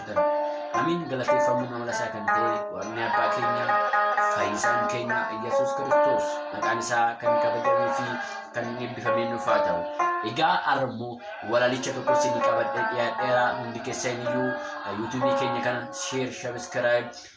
argatan. Amiin galateeffamuun amala isaa kan ta'e waaqni abbaa keenya fayyisaan keenya Iyyasuus Kiristoos maqaan isaa kan kabajamee fi kan eebbifamee nuuf haa ta'u. Egaa armoo walalicha tokko isin qabadhee dhiyaadheera hundi keessaniyyuu yuutuubii keenya kana sheer sabiskiraayib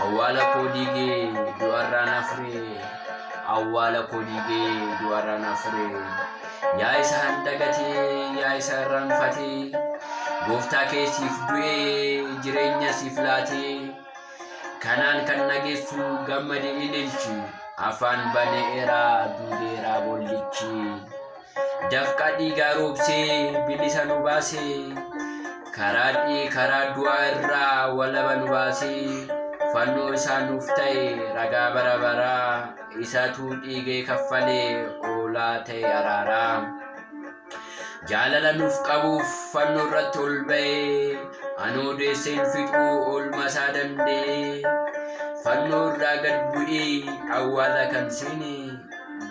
Awwaala koo diigee du'arraa na fure. Awwaala koo diigee du'arraa na fure. Yaa isa handagatee yaa isa irraanfatee. Gooftaa kee siif du'ee jireenya siif laatee. Kanaan kan nageessu gammade ililchi. Afaan baneera duudeera boollichi. Dafqa dhiigaa roobsee bilisa nu baase karaa dhii karaa du'aa irraa walaba nu baase fannoo isaa nuuf ta'e ragaa bara baraa isatuu dhiigee kaffalee oolaa ta'e araaraa jaalala nuuf qabuuf fannoo irratti ol ba'e anoo deesseen fixuu oolmaa isaa danda'e fannoo irraa gad bu'ee awwaala kan seene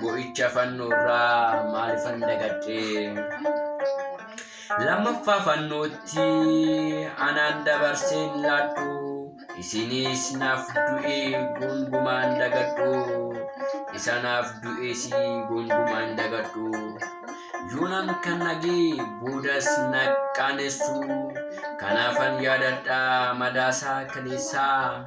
Bo'icha fannoorraa maalifan dagadhee? Lammaffaa fannootti anaan dabarseen laadhu. Isinis naaf du'ee gongumaan dagadhu. Isa naaf du'ees gongumaan dagadhu. Yoonaan kan nagee boodas na qaanessu. Kanaafan yaadadha madaasaa kaleessaa.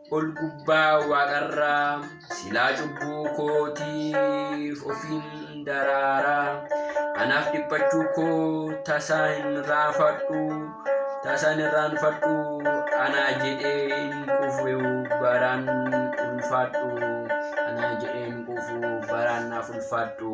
ol gubbaa waaqarraa silaa cubbuu kootiif ofiin daraaraa anaaf dhiphachuu koo tasaa hin raafadhu tasaan irraan fadhu anaa jedhee hin quufu baraan ulfaadhu anaa jedhee hin quufu baraan naaf ulfaadhu.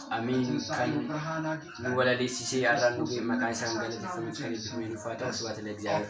Amiin kan nu walaleessisee arraan dhufe maqaan isaan galateeffamutti kan eebbifame nuuf haa ta'u sibaata la'egzaabeer.